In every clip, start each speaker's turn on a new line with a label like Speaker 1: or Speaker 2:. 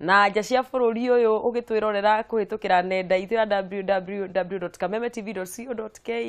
Speaker 1: na nja cia bũrũri ũyũ ũgĩtwĩrorera kũhĩtũkĩra nenda itũ ya www.kamemetv.co.ke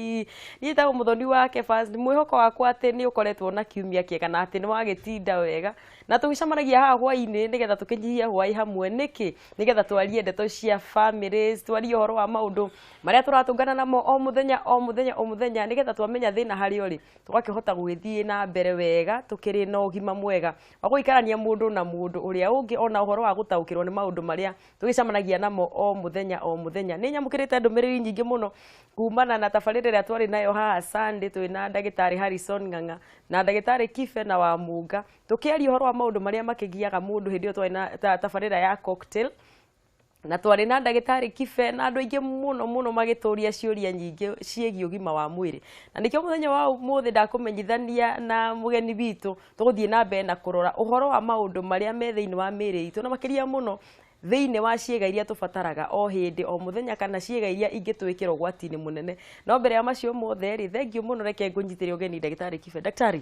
Speaker 1: niĩ tagwo mũthoni wa kebas nĩ mwĩhoko wakwa atĩ nĩ ũkoretwo na kiumia kĩega na atĩ nĩ wagĩtinda wega na tũgĩcamanagia haha hwainĩ nĩgetha tũkĩnyihie hwaĩ hamwe nĩkĩ nĩgetha twarie ndeto cia family twarie ũhoro wa maũndũ marĩa tũratũngana namo o mũthenya o mũthenya o mũthenya nĩgetha twamenya thĩna harĩ ũrĩ tũgakĩhota gũgĩthiĩ na mbere wega tũkĩrĩ na ũgima mwega wa gũikarania mũndũ na mũndũ ũrĩa ũngĩ ona ũhoro wa gũtaũkĩrwo nĩ maũndũ marĩa tũgĩcamanagia namo o mũthenya o mũthenya nĩ nyamũkĩrĩte ndũmĩrĩri nyingĩ mũno kumana na tabarĩra ĩrĩa twarĩ nayo haha Sunday twĩ na ndagĩtarĩ Harrison Ng'ang'a na ndagĩtarĩ Kibe na Wamunga tũkĩaria ũhoro wa maũndũ marĩa makĩgiaga mũndũ hĩndĩ ĩyo twarĩ na ta- tabarĩra ya cocktail na twarĩ na ndagĩtarĩ kibe na andũ aingĩ mũno mũno magĩtũria ciũria nyingĩ ciĩgiĩ ũgima wa mwĩrĩ na nĩkĩo mũthenya wa ũmũthĩ ndakũmenyithania na mũgeni witũ tũgũthiĩ na mbere na kũrora ũhoro wa maũndũ marĩa me thĩinĩ wa mĩĩrĩ itũ na makĩria mũno thĩinĩ wa ciĩga iria tũbataraga o hĩndĩ o mũthenya kana ciĩga iria ingĩtwĩkĩra ũgwati-inĩ mũnene no mbere ya macio mothe rĩ thengiũ mũno reke ngũnyitĩre ũgeni ndagĩtarĩ kibe ndagĩtarĩ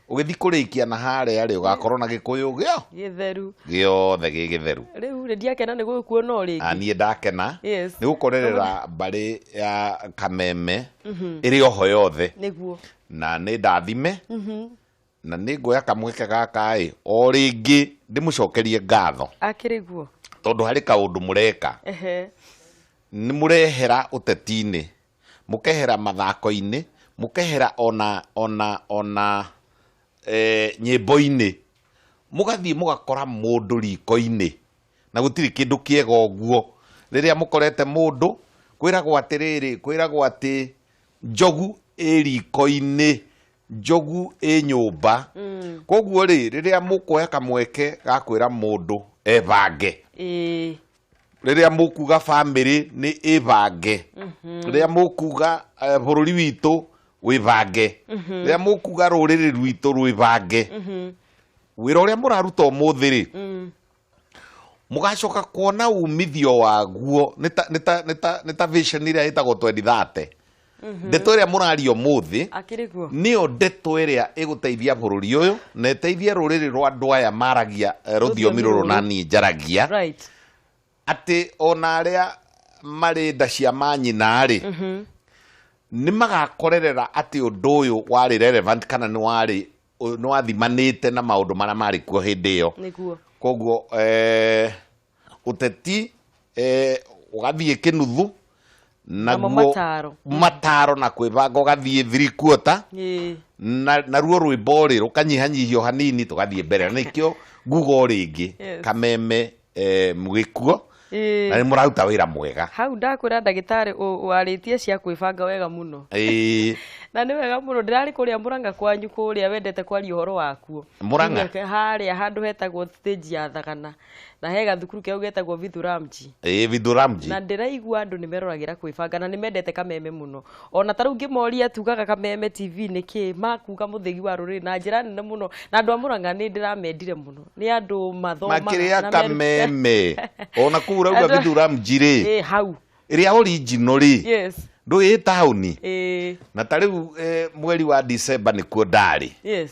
Speaker 2: ũgĩthiĩ kũrĩkia na harĩa rĩ ũgakorwo na gĩkũyũ gĩo gĩtheru
Speaker 1: gĩothe gĩ
Speaker 2: gĩtheru rĩu rĩ ndiakena nĩ
Speaker 1: gũkuona o rĩngĩ niĩ ndakena Yes.
Speaker 2: nĩ gũkorerera mbarĩ ya kameme ĩrĩ oho yothe nĩguo na
Speaker 1: nĩ ndathime
Speaker 2: na nĩ nguoya kamweke gaka ĩ o rĩngĩ ndĩmũcokerie ngatho akĩrĩ guo
Speaker 1: tondũ harĩ kaũndũ
Speaker 2: mũreka ehe nĩ mũrehera ũteti-inĩ mũkehera mathako-inĩ, mũkehera ona ona ona eh, nyĩmbo-inĩ, mũgathiĩ mũgakora mũndũ riko-inĩ, na gũtirĩ kĩndũ kĩega ũguo. Rĩrĩa mũkorete mũndũ, kwĩragwo atĩrĩrĩ, kwĩragwo atĩ njogu ĩ riko-inĩ, njogu ĩ nyũmba. Koguo rĩ, rĩrĩa mũkuoya kamweke ga kwĩra mũndũ ebange, Ĩĩ. rĩrĩa mũkuga bamĩrĩ nĩ ĩbange rĩrĩa mũkuga eh, bũrũri witũ wĩbange rĩrĩa mũkuga rũrĩrĩ rwitũ rwĩbange wĩra ũrĩa mũraruta ũmũthĩ rĩ mũgacoka kuona umithio waguo nĩ ta- nĩ ta- nĩ ta- nĩ ta vision ĩrĩa ĩtagwo 2030 ndeto ĩrĩa mũraria ũmũthĩ akĩrĩ kuo nĩyo ndeto ĩrĩa ĩgũteithia bũrũri ũyũ na ĩteithie rũrĩrĩ rwa andũ aya maragia eh, rũthiomi rũrũ na niĩ njaragia right atĩ ona arĩa marĩ nda cia manyina-rĩ nĩ magakorerera atĩ ũndũ ũyũ warĩ relevant kana nĩ warĩ nĩ wathimanĩte na maũndũ marĩa marĩ kuo hĩndĩ ĩyo nĩguo koguo eh, uteti eh, ugathie kinuthu Namo naguo mataro. mataro na kwibanga ugathie three quarter Ĩĩ. na naruo rwimbo rĩ rukanyihanyihio hanini tugathie mbere nikio ngugo ringi Yes. kameme eh, mugikuo Ĩĩ. na ni muraruta wira mwega hau ndakwĩra
Speaker 1: ndagĩtarĩ ũ- warĩtie cia kwĩbanga wega mũno Ĩĩ. na nĩ wega mũno ndĩrarĩ kũrĩa mũranga kwanyu kũrĩa wendete kwaria ũhoro wakuo Mũrang'a? Nginya
Speaker 2: harĩa handũ
Speaker 1: hetagwo stage ya thagana na he gathukuru keu getagwo vithuramji ĩ vidhuramji na
Speaker 2: ndĩraigua andũ
Speaker 1: nĩ meroragĩra kwĩbanga na nĩ mendete kameme mũno ona ta rĩu ngĩmoria tugaga kameme tv nĩ kĩ makuga mũthĩgi wa rũrĩrĩ na njĩra nene mũno na andũ a mũrang'a nĩ ndĩramendire mũno nĩ andũ mathomaga makĩrĩa na meru- kameme
Speaker 2: ona kuu urauga Andũ- vidhuramji rĩ Ĩ, hau ĩrĩa
Speaker 1: original
Speaker 2: rĩ yes ndũĩ taũni Ĩ, na ta rĩu eh, mweri wa December nĩkuo ndarĩ yes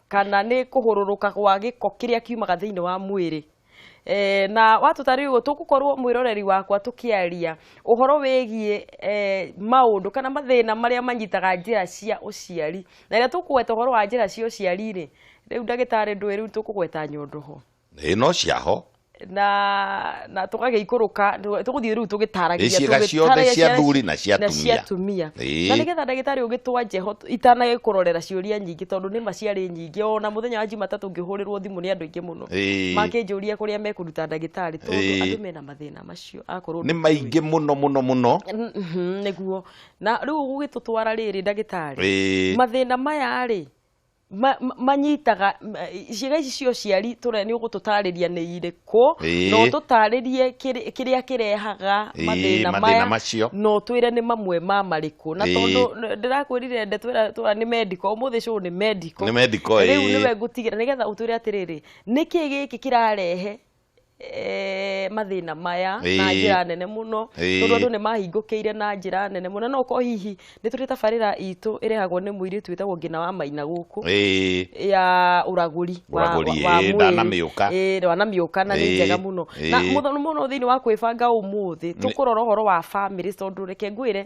Speaker 1: kana nĩ kũhũrũrũka gwa gĩko kĩrĩa kiumaga thĩinĩ wa mwĩrĩ Eh, na watũtarĩria ũguo tũgũkorwo mwĩroreri wakwa tũkĩaria ũhoro wĩgiĩ eh, maũndũ kana mathĩna marĩa manyitaga njĩra cia ũciari na rĩrĩa tũkũgweta ũhoro wa njĩra cia ũciari-rĩ rĩu ndagĩtarĩ ndũĩ rĩu tũkũgweta nyondo ho ĩ no ciaho
Speaker 2: na
Speaker 1: na tũgagĩikũrũka tũgũthiĩ rĩu tũgĩtaragia Ĩ ciĩga ciothe cia
Speaker 2: athuri na cia na cia atumia. atumia Ĩ. na
Speaker 1: nĩgetha ndagĩtarĩ ũgĩtwa njeho itanagĩkũrorera ciũria nyingĩ tondũ nĩ ma ciarĩ nyingĩ ona mũthenya wa jumatatũ ngĩhũrĩrwo thimũ nĩ andũ aingĩ mũno Ĩ. makĩnjũria kũrĩa mekũruta ndagĩtarĩ tondũ Ĩ. andũ mena mathĩna macio akorwo nĩ maingĩ mũno
Speaker 2: mũno mũno nĩguo
Speaker 1: na rĩu gũgĩtũtwara rĩrĩ ndagĩtarĩ Ĩ. mathĩna maya rĩ ma- ma- manyitaga m- ciĩga ici cia ũciari tũre nĩ ũgũtũtarĩria nĩ irĩkũ Ĩĩ. na ũtũtarĩrie kĩrĩ- kĩrĩa kĩrehaga Ĩĩ, mathĩna mathĩna maya macio. na ũtwĩre nĩ mamwe ma marĩkũ na Ĩĩ. tondũ n- ndĩrakwĩrire nde twĩra twĩra nĩ mendiko ũmũthĩ cũũ nĩ mendiko Nĩ mendiko, rĩu ĩĩ. nĩwe ngũtigĩra nĩgetha ũtwĩre atĩrĩrĩ nĩkĩ gĩkĩ kĩrarehe eh, mathĩna maya na Ĩĩ. njĩra nene mũno Ĩĩ. tondũ andũ nĩ mahingũkĩire na njĩra nene mũno no ko hihi nĩ tũrĩ tabarĩra itũ ĩrehagwo nĩ mũirĩtu wĩtagwo ngina wa maina gũkũ Ĩĩ. ya ũragũri wa- Ũragũri, wa- wa ĩĩ, mwĩrĩ. ndanamĩũka. Ĩĩ, ndanamĩũka na nĩ Ĩĩ, njega mũno na ĩĩ. mũno mũno thĩinĩ wa kwĩbanga ũmũthĩ tũkũrora ũhoro wa bamĩrĩ tondũ reke ngwĩre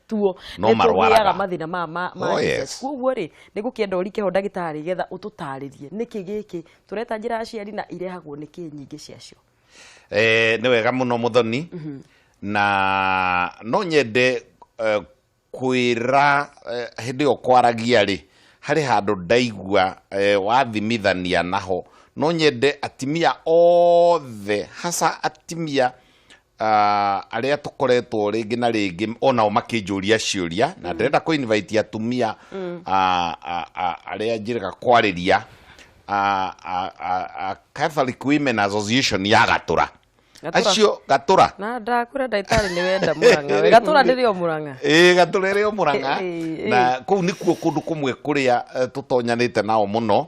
Speaker 1: tuo No nĩ marwaraga. tũgĩaga mathĩna maya ma ma Oh, Jesus. yes. kwoguo rĩ nĩ gũkĩenda ũrike ho ndagĩtarĩ getha ũtũtarĩrie nĩkĩ gĩkĩ tũreta njĩra ya ciari na irehagwo nĩ kĩ nyingĩ ciacio Eh, nĩ
Speaker 2: wega mũno mũthoni na no nyende eh, kwĩra eh, hĩndĩ ĩyo kwaragia rĩ harĩ handũ ndaigua eh, wathimithania naho no nyende atimia othe hasa atimia ah, arĩa tũkoretwo rĩngĩ na rĩngĩ onao makĩnjũria ciũria na ndĩrenda kũ invite atumia ah, ah, ah, arĩa njĩrĩga kwarĩria ah, ah, ah, ah, Catholic Women Association ya Gatũra Gatũra. acio Gatũra na ndakura ndagĩtarĩ
Speaker 1: nĩ wenda mũrang'a we gatũra ndĩrĩ o mũrang'a ĩĩ gatũra ĩrĩ o
Speaker 2: mũrang'a Ĩĩ, ĩĩ. na kũu nĩkuo kũndũ kũmwe kũrĩa eh, tũtonyanĩte nao mũno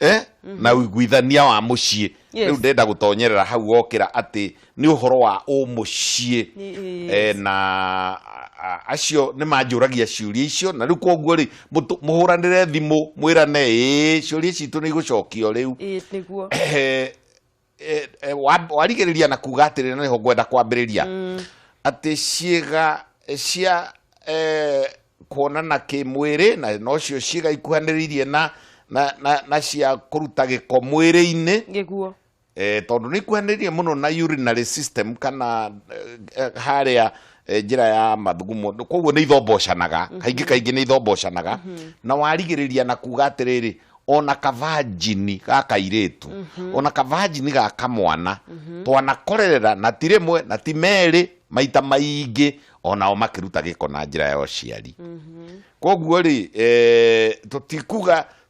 Speaker 2: eh? Mhm. na uiguithania wa muciĩ Yes. rĩu ndenda gũtonyerera hau wokĩra atĩ nĩ ũhoro wa ũmũciĩ Yes. eh, na a- acio nĩ manjũragia ciũria icio na rĩu koguo rĩ mũtũ- mũhũranĩre thimũ mwĩrane ĩ ciũria citũ nĩ igũcokio rĩu Ĩĩ, nĩguo Eh,
Speaker 1: eh, eh,
Speaker 2: wa- warigĩrĩria na kuga atĩrĩ na nĩho ngwenda kwambĩrĩria atĩ ciĩga eh, cia eh, kuonana kĩmwĩrĩ na nocio ciĩga ikuhanĩrĩirie na, na, na, na cia kũruta gĩko mwĩrĩ-inĩ gĩkuo
Speaker 1: eh, tondũ nä
Speaker 2: ikuhanä mũno na urinary system kana eh, eh, harĩa eh, njĩra ya mathugumo Nĩ- koguo nĩ ithombocanaga kaingĩ kaingĩ nĩ ithombocanaga na warigĩrĩria na kuga atĩrĩrĩ ona kavanjini ga kairĩtu ona kavanjini ga kamwana twanakorerera na ti rĩmwe na ti merĩ maita maingĩ onao makĩruta gĩko na njĩra ya ũciari koguo rĩ eh, tũtikuga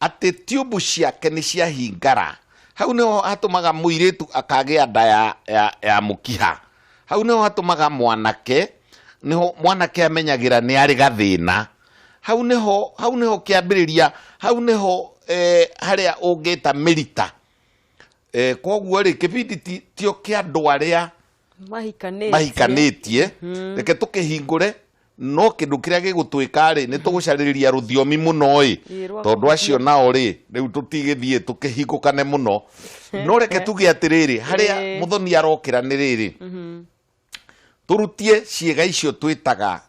Speaker 2: atĩ tiumbu ciake nĩ ciahingara hau nĩho hatũmaga mũirĩtu akagĩa nda ya, ya, ya mũkiha hau nĩho hatũmaga mwanake nĩho mwanake amenyagĩra nĩ arĩ gathĩna hau nĩho hau nĩho kĩambĩrĩria hau nĩho eh, harĩa ũngĩta mĩrita eh, koguo rĩ kĩbindi ti- tio kĩa andũ arĩa mahikanĩtie mahikanĩtie reke tũkĩhingũre no kĩndũ kĩrĩa gĩgũtwĩka rĩ nĩ tũgũcarĩrĩria rũthiomi mũno ĩ Ĩ, rwa tondũ acio nao rĩ rĩu tũtigĩthiĩ tũkĩhingũkane mũno no reke tuge atĩrĩrĩ harĩa Ĩ. mũthoni arokĩra nĩ rĩrĩ tũrutie ciĩga icio twĩtaga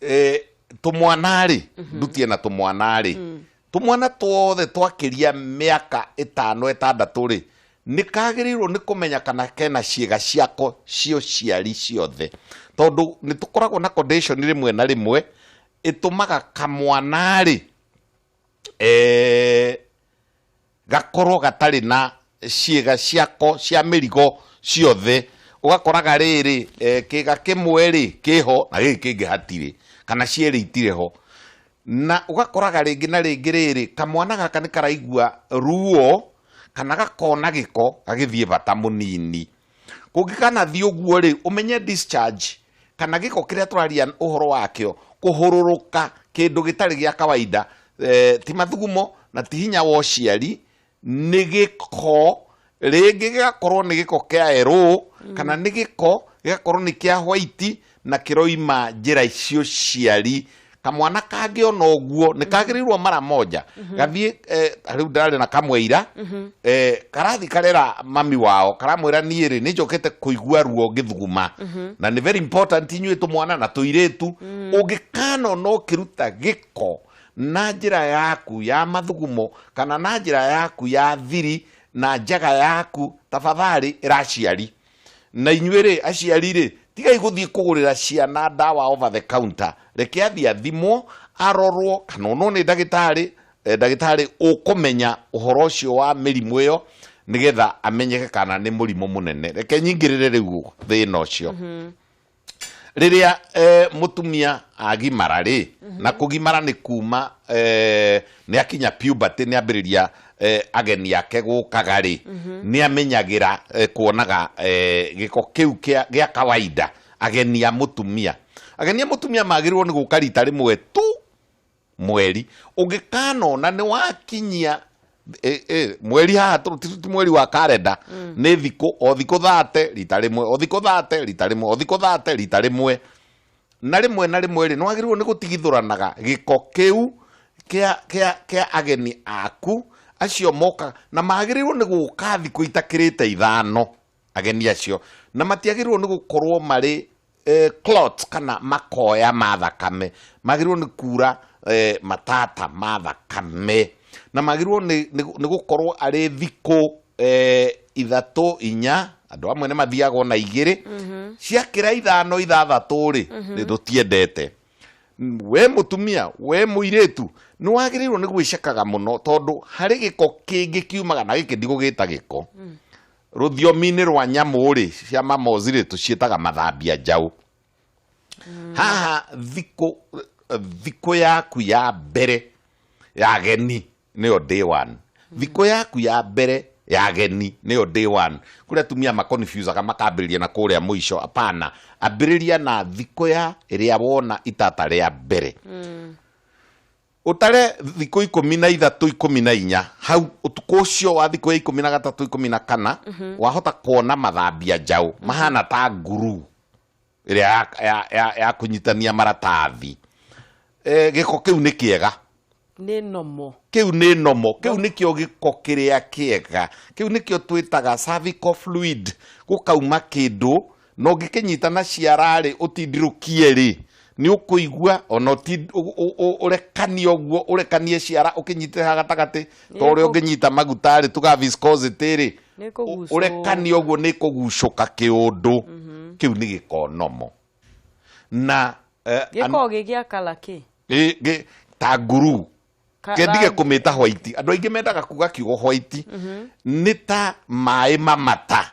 Speaker 2: eh, tũmwana-rĩ ndutie na tũmwana-rĩ tũmwana twothe twakĩria mĩaka ĩtano ĩtandatũ-rĩ nĩ kagĩrĩirwo nĩ kũmenya kana kena ciĩga ciako cia ũciari ciothe tondũ nĩ tũkoragwo na condition rĩmwe na rĩmwe ĩtũmaga kamwana-rĩ eh, gakorwo gatarĩ na ciĩga ciako cia mĩrigo ciothe, ũgakoraga rĩrĩ, kĩga kĩmwe-rĩ kĩho na gĩkĩ kĩngĩ hatirĩ, kana cierĩ itirĩ ho. Na ũgakoraga rĩngĩ na rĩngĩ rĩrĩ, kamwana gaka nĩkaraigua ruo kana gakona gĩko gagĩthiĩ bata mũnini. Kũngĩkanathiĩ ũguo-rĩ, ũmenye discharge, kana gĩko kĩrĩa tũraria ũhoro wakĩo, kũhũrũrũka kĩndũ gĩtarĩ gĩa kawaida, ti mathugumo na ti hinya wa ũciari, nĩ gĩko, rĩngĩ gĩgakorwo nĩ gĩko kĩa yerũũ, kana nĩ gĩko gĩgakorwo nĩ kĩa hwaiti, na kĩroima njĩra icio ciari kamwana kangĩ ona ũguo nĩ kagĩrĩirwo mara moja gathiĩ eh, rĩu ndararĩ na kamwe ira eh, karathi karera mami wao karamwĩra niĩ rĩ nĩ njokete kũigua ruo ngĩthuguma na nĩ very important inyuĩ tũmwana na tũirĩtu ũngĩkanona ũkĩruta gĩko na njĩra yaku ya mathugumo kana na njĩra yaku ya thiri na njaga yaku tafadhali ĩraciari Na inyuĩ-rĩ, aciari-rĩ, tigai gũthiĩ kũgũrĩra ciana ndawa over the counter. Reke athiĩ athimwo, arorwo, kana onwo nĩ ndagĩtarĩ, ndagĩtarĩ ũkũmenya ũhoro ũcio wa mĩrimũ ĩyo, nĩgetha amenyeke kana nĩ mũrimũ mũnene. Reke nyingĩrĩre rĩu thĩna ũcio. rĩrĩa eh, mũtumia agimara rĩ na kũgimara nĩ kuma eh, nĩ akinya puberty nĩ ambĩrĩria eh, ageni ake gũkaga rĩ nĩ amenyagĩra eh, kuonaga eh, gĩko kĩu kĩa gĩa kawaida ageni a mũtumia ageni a mũtumia magĩrĩirwo nĩ gũka rita rĩmwe tu mweri ũngĩkanona nĩ wakinyia e, e, mweri haha tũ- ti ti mweri wa karenda nĩ thikũ o thikũ thate rita rĩmwe o thikũ thate rita rĩmwe o thikũ thate rita rĩmwe na rĩmwe na rĩmwe rĩ nĩwagĩrĩirwo nĩ gũtigithũranaga gĩko kĩu kĩa kĩa kĩa ageni aku acio moka na magĩrĩirwo nĩ gũka thikũ itakĩrĩte ithano ageni acio na matiagĩrĩirwo nĩ gũkorwo marĩ eh, clots kana makoya ma thakame magĩrĩirwo nĩ kuura eh, matata ma thakame na magĩrĩirwo nĩ- nĩ nĩ gũkorwo arĩ thikũ eh, ithatũ inya andũ amwe nĩ mathiaga ona igĩrĩ ciakĩra ithano ithathatũ rĩ nĩ tũtiendete we mutumia we muiritu nä wagä nä gwä cakaga må no tondå harä gä ko kä ngä kiumaga na gä kä ndigå gä ta gä ko Rũthiomi-inĩ rwa nyamũ-rĩ, cia mamozi-rĩ, tũciĩtaga mathambia njaũ. Haha thikũ thikũ yaku ya mbere ya ageni nĩyo day one. Thikũ yaku ya mbere ya ageni nĩyo day one. Kũrĩ atumia ma confuse aga makambĩrĩria na kũrĩa mũico, hapana. Ambĩrĩria na thikũ ya ĩrĩa wona itata rĩa mbere. Ũtare thikũ ikũmi na ithatũ ikũmi na inya hau ũtukũ ũcio wa thikũ ya ikũmi na gatatũ ikũmi na kana wahota kuona mathambia njaũ mahana ta nguru ĩrĩa ya, ya, ya, ya kũnyitania maratathi e, gĩko kĩu nĩ kĩega nĩ nomo
Speaker 1: kĩu nĩ nomo
Speaker 2: kĩu nĩkĩo gĩko kĩrĩa kĩega kĩu nĩkĩo twĩtaga cervical fluid gũkauma kĩndũ na ũngĩkĩnyita na ciara-rĩ ũtindirũkie-rĩ nĩ ũkũigua ona ũti- ũ- ũ- ũ- ũrekanie ũguo ũrekanie ciara ũkĩnyitĩte ha gatagatĩ ta ũrĩa Nĩkũ- ũngĩnyita maguta-rĩ tuga viscosity-rĩ Nĩkũgucũka. ũ- ũrekanie ũguo nĩ kũgucũka kĩũndũ kĩu nĩ gĩkonomo na eh, an- gĩkoragwo
Speaker 1: gĩgĩa kala kĩ ĩ- gĩ- ta
Speaker 2: nguru Ka- kendige rangi. kũmĩta hwaiti andũ aingĩ mendaga kuga kiugo hwaiti nĩ ta maĩ mamata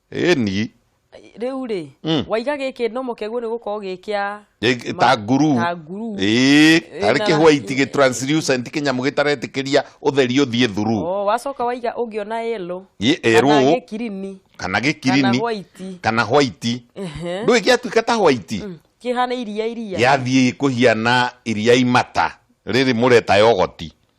Speaker 2: Ĩni. Rĩu
Speaker 1: rĩ, mm. waiga gĩkĩ ndomo kĩaguo nĩ gũkorwo gĩ kĩa ta nguru
Speaker 2: ta nguru ĩĩ harĩ kĩ white gĩ translucent kĩnyamũ gĩtaretĩkĩria ũtheri ũthiĩ thuru oh wacoka waiga ũngĩona
Speaker 1: yellow ĩ erũ kana gĩ kirini
Speaker 2: kana gĩ kirini kana white kana white ndũĩ gĩatuĩka ta white mm. kĩhana iria
Speaker 1: iria yathiĩ kũhiana
Speaker 2: iria imata rĩrĩ mũreta yogoti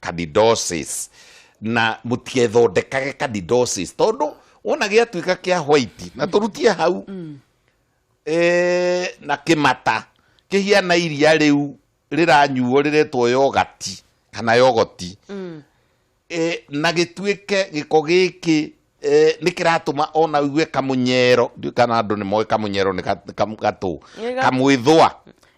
Speaker 2: candidosis na mũtiethondekage candidosis tondũ wona gĩatuĩka kĩa white na tũrutie hau eh, na kĩmata kĩhiana iria rĩu rĩranyuo rĩretwo yogati kana yogoti eh, na gĩtuĩke gĩko gĩkĩ Eh, nä kä ratåma ona ugue kamũnyero ndiũ kana andå nä moä kamũnyero nä gatå Nĩ ga- kamwä thwa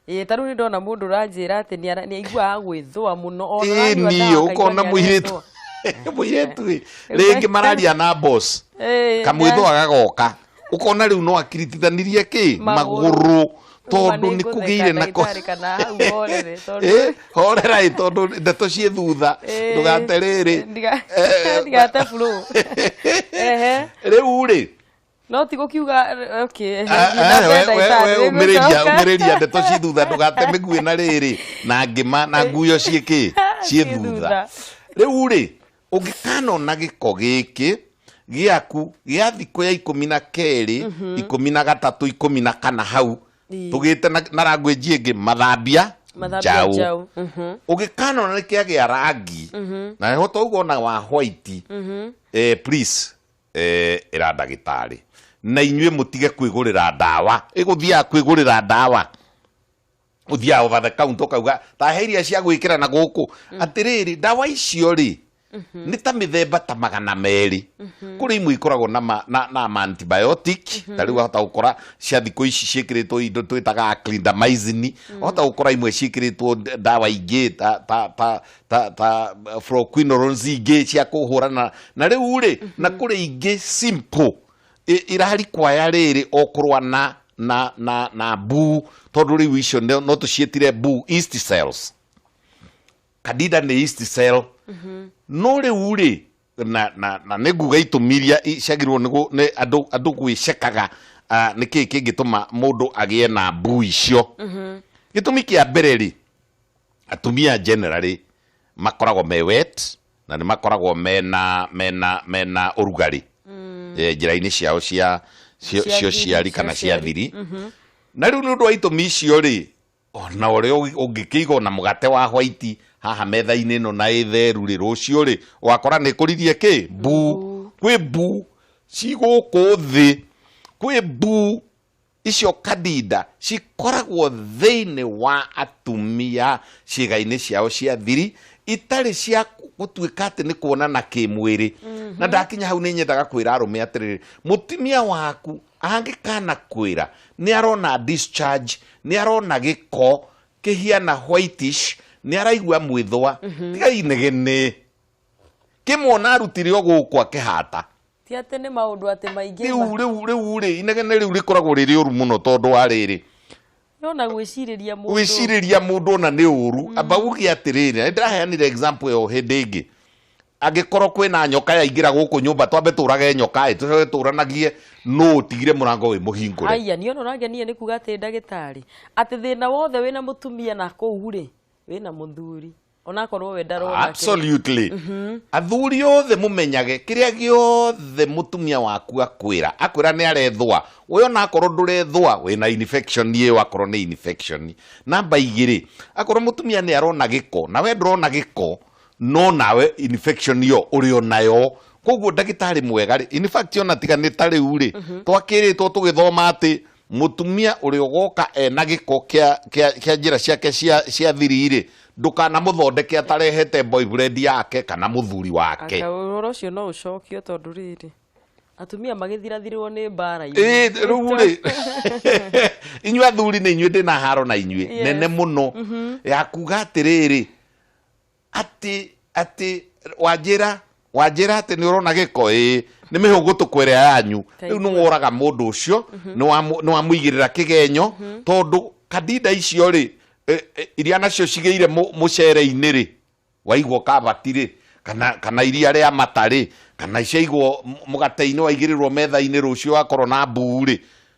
Speaker 2: ĩĩ ta rĩu
Speaker 1: nĩ ndona mũndũ ũranjĩra atĩ nĩ ara- nĩ aiguaga gwĩthũa mũno Ona ä aranyua niä ndawa, å kona akaigua nĩ
Speaker 2: mũirĩtu arethũa. mũirĩtu rä Rĩu rä ngä ndagĩtarĩ- mararia na boss. Ĩĩ, kamwä thwa gagoka ukona riu no akiritithanirie ki Magũrũ. maguru tondu Uma ni nĩngũtheka kugire na ko ndagĩtarĩ kana hau horere, tondũ- Eh, horerai tondu ndeto ciĩ thutha Eh, ndugate riri ndiga- Eh,
Speaker 1: ndigate flow. Ehe. riu
Speaker 2: ri no ti gukiuga
Speaker 1: okay, Ah, thiĩ na ah, mbere we- we- ndagĩtarĩ, we rĩu umĩrĩria
Speaker 2: gũcoka. umĩrĩria ndeto ciĩ thutha ndũgate mĩguĩ na rĩrĩ na ngĩma na nguyo ciĩkĩ ciĩ Ciĩ thutha thutha. rĩu rĩ ũngĩkanona gĩko gĩkĩ gĩaku gĩa thikũ ya ikũmi na kerĩ mhm. ikũmi na gatatũ ikũmi na kana hau tũgĩte na rangwĩnji ĩngĩ mathambia njaũ mhm. ũngĩkanona nĩ kĩa gĩa rangi mhm. na heho tauga ona wa white eh, please eh, ĩra ndagĩtarĩ na inyuĩ mũtige kwĩgũrĩra ndawa ĩgũthiaga kwĩgũrĩra ndawa uthia over the counter ukauga ta he iria cia gwikira na guku atiriri ndawa icio ri nĩ ta mĩthemba ta magana merĩ kũrĩ imwe ikoragwo na ma- na na ma antibiotic ta rĩu wahota gũkora cia thikũ ici ciĩkĩrĩtwo indo twĩtaga clindamycin wahota gũkora imwe ciĩkĩrĩtwo d- ndawa ingĩ ta ta ta ta ta fluoroquinolones ingĩ cia kũhũrana na rĩu rĩ na kũrĩ ingĩ simple ĩ- irarikwaya rĩrĩ o kũrũa na na na na bu tondũ rĩu icio no no tũciĩtire bu east cells kadida nĩ east cell no rĩu rĩ na na na nĩ nguga itũmi iria i- ciagĩrĩirwo nĩ gũ- nĩ andũ andũ gwĩcekaga ah, nĩ kĩĩ kĩngĩtũma mũndũ agĩe na bu icio gĩtũmi kĩa mbere rĩ atumia generally makoragwo me wet na nĩ makoragwo mena mena mena ũrugarĩ eh, njĩra-inĩ ciao cia cio Cia cio thiri, ciari cia kana cia ciari. thiri na rĩu nĩ ũndũ wa itũmi icio rĩ ona ũrĩa ũngĩ- ũngĩkĩiga ona mũgate wa hwaiti haha metha-inĩ ĩno na ĩtheru rĩ rũciũ rĩ wakora nĩ kũririe kĩ mbu kwĩ mbu cigũkũ thĩ kwĩ mbu Icio kandida cikoragwo thĩinĩ wa atumia ciĩga-inĩ ciao cia thiri itarĩ cia gũtuĩka atĩ nĩ kuonana kĩmwĩrĩ na ndakinya hau nĩ nyendaga kwĩra arũme atĩrĩrĩ mũtumia waku angĩkana kwĩra nĩ arona discharge nĩ arona gĩko kĩhiana whitish nĩ araigua mwĩthũa tiga inegene kĩmwona arutire o gũkũ akĩhata ti atä nä maå
Speaker 1: ndå atä maingä riu riu riu ri
Speaker 2: inegene riu rikoragwo rä rä å ru må no tondå wa rä rä yona gwä
Speaker 1: cirä ria må wĩcirĩria mũndũ ona nĩ
Speaker 2: ũru amba uge atĩrĩrĩ ndĩraheanire example ĩyo hĩndĩ ĩngĩ angĩkorwo kwĩna nyoka yaingĩra gũkũ nyũmba twambe tũrage nyoka ĩ tũcoke tũranagie nũ ũtigire mũrango wĩ mũhingũre aya nä ona ũrangenia nä
Speaker 1: kuga atä ndagä tarä atä thä na wothe wä na må tumia na kå u rä wä na må thuri onakorwo we ndarona kĩrĩa- absolutely
Speaker 2: athuri othe mumenyage kiria giothe mutumia waku akwira akwira ni arethwa we ona akorwo ndurethwa wina infection ye wakorwo ni infection namba igiri akorwo mutumia ni arona giko na we ndurona giko no nawe infection yo uri onayo koguo ndagitari mwega ri in fact ona tiga ni ta riu ri twakiritwo tugithoma ati mutumia å rä a å goka ena gä ko kä a njä ra ciake cia thiri-rä ndåkana må thondeke atarehete boyfriend yake kana må thuri wake Anga ũhoro ũcio no
Speaker 1: ũcokio tondũ rĩrĩ atumia magĩthirathirwo nĩ mbara-inĩ. Ĩĩ, rĩu rĩ
Speaker 2: inyuĩ athuri nĩ inyuĩ ndĩ na haro na inyuĩ Yes. nene mũno ya kuga atĩrĩrĩ Atĩ, atĩ, wanjĩra, wanjĩra atĩ nĩ ũrona gĩko ĩĩ nĩ mĩhũgũtũkũ ĩrĩa yanyu Ta rĩu nĩ ithuĩ. woraga mũndũ ũcio nĩ wamũ- nĩ wamũigĩrĩra kĩgenyo tondũ kandinda icio rĩ eh, eh, iria nacio cigĩire mũ- mũcere-inĩ rĩ waigwo kabati rĩ kana, kana iria rĩa mata rĩ kana ciaigwo m- mũgate-inĩ waigĩrĩrwo metha-inĩ rũciũ wakorwo na mbuu rĩ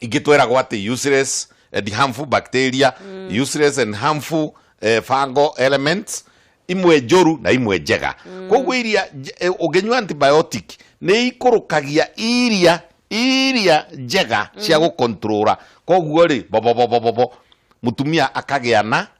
Speaker 2: ingä tweragwo atä useless and harmful bacteria mm. useless and harmful eh, fungal elements imwe njoru na imwe njega mm. koguo iria nje- eh, ũngĩnyua antibiotic nĩ ikũrũkagia iria iria njega cia gũkontrora koguo rĩ bobobobobobo mũtumia akagĩa na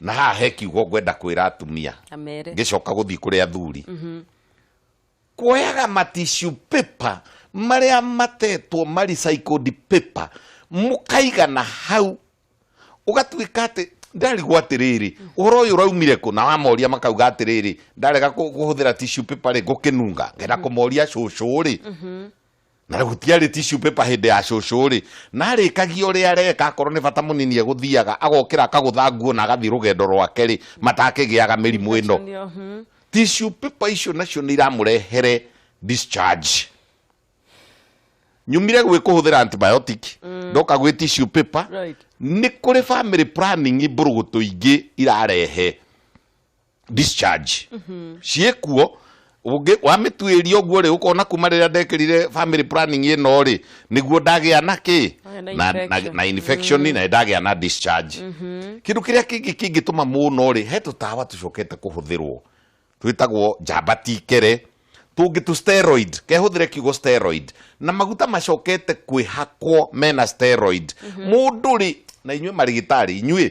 Speaker 2: na haha he kiugo ngwenda kwĩra atumia amere ngĩcoka gũthiĩ kũrĩ athuri kuoyaga matishu paper marĩa matetwo maricycled paper mũkaigana hau ũgatuĩka atĩ ndarigwo atĩrĩrĩ ũhoro ũyũ ũraumire kũ na wamoria makauga atĩrĩrĩ ndarega kũ- kũhũthĩra tishu paper rĩ ngũkĩnunga ngenda kũmoria cũcũ rĩ na gũtiarĩ tissue paper hĩndĩ ya cũcũ rĩ na arĩkagia ũrĩa areka akorwo nĩ bata mũnini egũthiaga agokĩra akagũtha nguo na agathiĩ rũgendo rwake rĩ matakĩgĩaga mĩrimũ ĩno Ndio, mhm. tissue paper icio nacio nĩ iramũrehere discharge nyumire gwĩ kũhũthĩra antibiotic ndoka gwĩ tissue paper Right. nĩ kũrĩ family planning mbũrũgũtũ ingĩ irarehe discharge ciĩkuo ũngĩ wamĩtuĩria ũguo rĩ ũkona kuma rĩrĩa ndekĩrire family planning ĩno rĩ nĩguo ndagĩa na kĩ Wagĩa na na, na, infection. na infection na ndagĩa na discharge kĩndũ kĩrĩa kĩngĩ kĩngĩtũma mũno rĩ he tũtawa tũcokete kũhũthĩrwo twĩtagwo njamba tikere tũngĩ tũ steroid kehũthĩre kiugo steroid na maguta macokete kwĩhakwo mena steroid mũndũ rĩ na inyuĩ marĩgĩtarĩ inyuĩ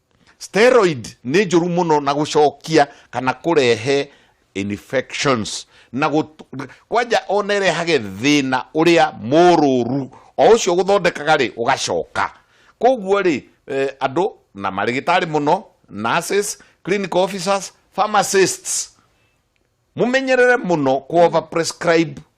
Speaker 2: steroid nä njå ru må no na gå cokia kana kå rehe infections na gũt- kwanja ona ĩrehage thĩna ũrĩa mũrũru o ũcio gũthondekaga rĩ ũgacoka koguo rĩ eh, andũ na marĩgĩtarĩ mũno nurses clinical officers pharmacists mũmenyerere mũno kuova prescribe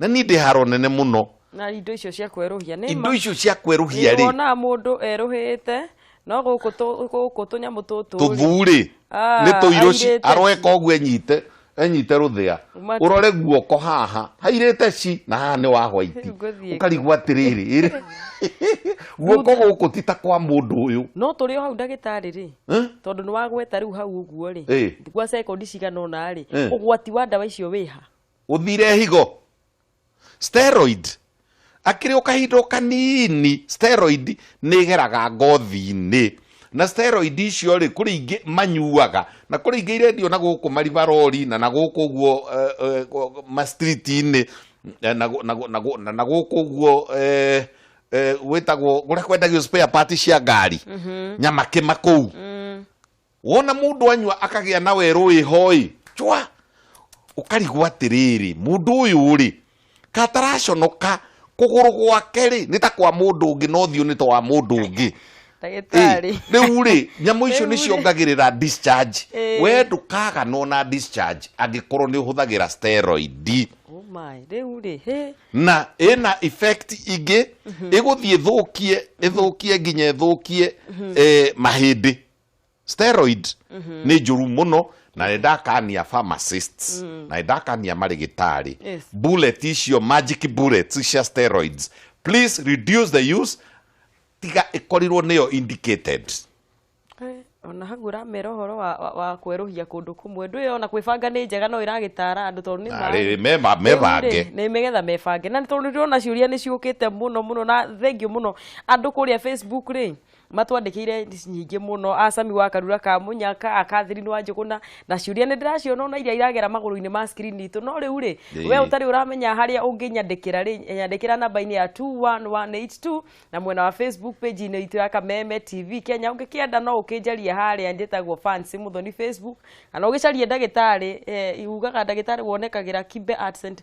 Speaker 2: na niĩ ndĩ haro nene mũno na indo icio cia
Speaker 1: kwerũhia nĩ indo icio cia kwerũhia
Speaker 2: rĩ nĩwonaga mũndũ erũhĩte
Speaker 1: no gũkũ tũ- gũkũ tũnyamũ tũtũ tũthurĩ
Speaker 2: Ah, nĩ tũirũci airĩte aroeka ũguo enyite enyite rũthĩa Mati- ũrore guoko haha hairĩte ci na haha nĩ wa hwaiti Rĩu ngũthiĩ ũkarigwo atĩrĩrĩ ĩrĩ- guoko gũkũ ti ta kwa mũndũ ũyũ no tũrĩ o hau ndagĩtarĩ
Speaker 1: rĩ Eh? tondũ nĩ wagweta rĩu hau ũguo rĩ Eh. gwa sekondi cigana ũna rĩ Eh. ũgwati wa ndawa icio wĩha ũthire higo
Speaker 2: steroid akĩrĩ o kahinda o kanini steroid nĩ ĩgeraga ngothi-inĩ na steroid icio rĩ kũrĩ ingĩ manyuaga na kũrĩ ingĩ irendio na gũkũ maribarori na na gũkũ ũguo eh, eh, ma street-inĩ eh, na gũ- na gũ- na gũ- na- na gũkũ ũguo eh, eh, gwĩtagwo kũrĩa kwendagio spare part cia ngari nyamakĩma kũu wona mũndũ anyua akagĩa na werũ ĩ hoi chwa ũkarigwo atĩrĩrĩ mũndũ ũyũ rĩ kataraconoka kũgũrũ gwake rĩ nĩ ta kwa mũndũ ũngĩ na ũthiũ nĩ ta wa mũndũ ũngĩ ndagĩtarĩ Ĩ,
Speaker 1: rĩu rĩ
Speaker 2: nyamũ icio nĩ Rĩu rĩ. ciongagĩrĩra discharge Ĩ. we ndũkaganwo na discharge angĩkorwo nĩ ũhũthagĩra steroid Oh my,
Speaker 1: rĩu rĩ hĩ na ĩna
Speaker 2: effect ingĩ ĩgũthiĩ ĩthũkie ĩthũkie nginya ĩthũkie eh, mahĩndĩ steroid nä njåru må no na nä ndakania pharmacists na nä ndakania marä gä tarä Yes. bullet icio magic bullets cia steroids please reduce the use tiga ä korirwo nä yo indicated
Speaker 1: Eh, ona hagu ũramera ũhoro wa, wa, wa kwerũhia kũndũ kũmwe ndwĩ ona kwĩbanga nĩ njega no ĩragĩtara andũ tondũ nĩ Na maĩ. rĩrĩ, meba- Rĩu mebange.
Speaker 2: rĩ, nĩ megetha mebange
Speaker 1: na tondũ ndĩrona ciũria nĩ ciũkĩte mũno mũno na thengiũ mũno andũ kũrĩa facebook rĩ matwandĩkĩire nyingĩ mũno acami wa karura ka mũnyaka akathirinu wa njũgũna na ciũria nĩ ndĩraciona ona iria iragera magũrũ-inĩ ma screen itũ no rĩu rĩ Ĩĩ. we ũtarĩ ũramenya harĩa ũngĩnyandĩkĩra rĩ nyandĩkĩra namba-inĩ ya 21182 na mwena wa facebook page-inĩ itũ ya kameme tv kenya ũngĩkĩenda no ũkĩnjarie harĩa njĩtagwo fancy mũthoni facebook kana ũgĩcarie ndagĩtarĩ eh, ugaga ndagĩtarĩ wonekagĩra kimbe Arts and